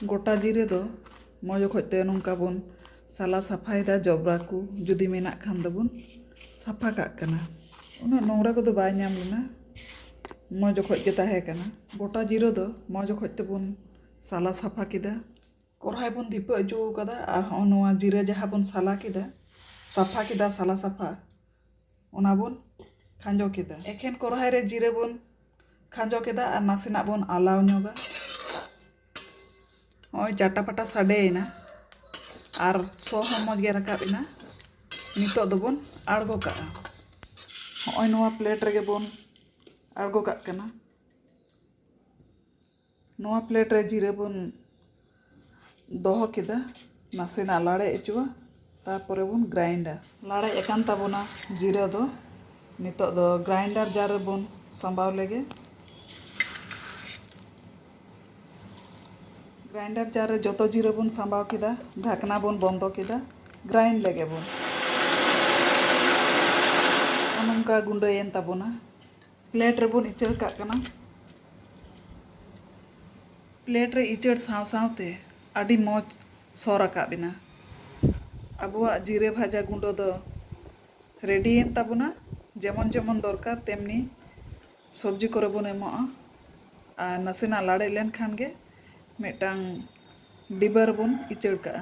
ᱜᱚᱴᱟ ᱡᱤᱨᱟᱹ ᱫᱚ ᱢᱚᱡᱽ ᱚᱠᱚᱡ ᱛᱮ ᱱᱚᱝᱠᱟ ᱵᱚᱱ ᱥᱟᱞᱟ ᱥᱟᱯᱷᱟᱭᱮᱫᱟ ᱡᱚᱵᱽᱨᱟ ᱠᱚ ᱡᱩᱫᱤ ᱢᱮᱱᱟᱜ ᱠᱷᱟᱱ ᱫᱚᱵᱚᱱ ᱥᱟᱯᱷᱟ ᱠᱟᱜ ᱠᱟᱱᱟ ᱩᱱᱟᱹᱜ ᱱᱚᱝᱨᱟ ᱠᱚᱫᱚ ᱵᱟᱭ ᱧᱟᱢ ᱞᱮᱱᱟ ᱢᱚᱡᱽ ᱚᱠᱚᱡ ᱜᱮ ᱛᱟᱦᱮᱸ ᱠᱟᱱᱟ ᱜᱚᱴᱟ ᱡᱤᱨᱟᱹ ᱫᱚ ᱢᱚᱡᱽ ᱚᱠᱚᱡ ᱛᱮᱵᱚᱱ ᱥᱟᱞᱟ ᱥᱟᱯᱷᱟ ᱠᱮᱫᱟ ᱠᱚᱲᱦᱟᱭ ᱵᱚᱱ ᱫᱷᱤᱯᱟᱹ ᱦᱚᱪᱚ ᱠᱟᱫᱟ ᱟᱨ ᱦᱚᱸᱜᱼᱚ ᱱᱚᱣᱟ ᱡᱤᱨᱟᱹ ᱡᱟᱦᱟᱸ ᱵᱚᱱ ᱥᱟᱞᱟ ᱠᱮᱫᱟ ᱥᱟᱯᱷᱟ ᱠᱮᱫᱟ ᱥᱟᱞᱟ ᱥᱟᱯᱷᱟ ᱚᱱᱟ ᱵᱚᱱ ᱠᱷᱟᱸᱡᱚ ᱠᱮᱫᱟ ᱮᱠᱷᱮᱱ ᱠᱚᱨᱦᱟᱭ ᱨᱮ ᱡᱤᱨᱟᱹ ᱵᱚᱱ ᱠᱷᱟᱸᱡᱚ ᱠᱮᱫᱟ ᱟᱨ ᱱᱟᱥᱮᱱᱟᱜ ᱵᱚᱱ ᱟᱞᱟᱣ ᱧᱚᱜᱟ ᱱᱚᱜᱼᱚᱭ ᱪᱟᱴᱟ ᱯᱟᱴᱟ ᱥᱟᱰᱮᱭᱮᱱᱟ ᱟᱨ ᱥᱚ ᱦᱚᱸ ᱢᱚᱡᱽ ᱜᱮ ᱨᱟᱠᱟᱵ ᱮᱱᱟ ᱱᱤᱛᱚᱜ ᱫᱚᱵᱚᱱ ᱟᱬᱜᱚ ᱠᱟᱜᱼᱟ ᱱᱚᱜᱼᱚᱭ ᱱᱚᱣᱟ ᱯᱞᱮᱴ ᱨᱮᱜᱮ ᱵᱚᱱ ᱟᱬᱜᱚ ᱠᱟᱜ ᱠᱟᱱᱟ ᱱᱚᱣᱟ ᱯᱞᱮᱴ ᱨᱮ ᱡᱤᱨᱟᱹ ᱵᱚᱱ ᱫᱚᱦᱚ ᱠᱮᱫᱟ ᱱᱟᱥᱮᱱᱟᱜ ᱞᱟᱲᱮᱡ ᱚᱪᱚᱣᱟ ᱛᱟᱨᱯᱚᱨᱮ ᱵᱚᱱ ᱜᱨᱟᱭᱤᱱᱰᱟ ᱞᱟᱲᱮᱡ ᱟᱠᱟᱱ ᱛᱟᱵᱚᱱᱟ ᱡᱤᱨᱟᱹ ᱫᱚ ᱱᱤᱛᱚᱜ ᱫᱚ ᱜᱨᱟᱭᱤᱱᱰᱟᱨ ᱡᱟᱨ ᱨᱮᱵᱚᱱ ᱥᱟᱢᱵᱟᱣ ᱞᱮᱜᱮ ᱜᱨᱟᱭᱤᱱᱰᱟᱨ ᱡᱟᱨ ᱨᱮ ᱡᱚᱛᱚ ᱡᱤᱨᱟᱹ ᱵᱚᱱ ᱥᱟᱢᱵᱟᱣ ᱠᱮᱫᱟ ᱰᱷᱟᱠᱱᱟ ᱵᱚᱱ ᱵᱚᱱᱫᱚ ᱠᱮᱫᱟ ᱜᱨᱟᱭᱤᱱᱰ ᱞᱮᱜᱮ ᱵᱚᱱ ᱱᱚᱝᱠᱟ ᱜᱩᱸᱰᱟᱹᱭᱮᱱ ᱛᱟᱵᱚᱱᱟ ᱯᱞᱮᱴ ᱨᱮᱵᱚᱱ ᱤᱪᱟᱹᱲ ᱠᱟᱜ ᱠᱟᱱᱟ᱾ ᱯᱞᱮᱴ ᱨᱮ ᱤᱪᱟᱹᱲ ᱥᱟᱶ ᱥᱟᱶᱛᱮ ᱟᱹᱰᱤ ᱢᱚᱡᱽ ᱥᱚ ᱨᱟᱠᱟᱵ ᱮᱱᱟ᱾ ᱟᱵᱚᱣᱟᱜ ᱡᱤᱨᱟᱹ ᱵᱷᱟᱡᱟ ᱜᱩᱸᱰᱟᱹ ᱫᱚ ᱨᱮᱰᱤᱭᱮᱱ ᱛᱟᱵᱚᱱᱟ᱾ ᱡᱮᱢᱚᱱ ᱡᱮᱢᱚᱱ ᱫᱚᱨᱠᱟᱨ ᱛᱮᱢᱱᱤ ᱥᱚᱵᱽᱡᱤ ᱠᱚᱨᱮ ᱵᱚᱱ ᱮᱢᱚᱜᱼᱟ᱾ ᱟᱨ ᱱᱟᱥᱮᱱᱟᱜ ᱞᱟᱲᱮᱡ ᱞᱮᱱ ᱠᱷᱟᱱ ᱜᱮ ᱢᱤᱫᱴᱟᱝ ᱰᱤᱵᱟᱹ ᱨᱮᱵᱚᱱ ᱤᱪᱟᱹᱲ ᱠᱟᱜᱼᱟ᱾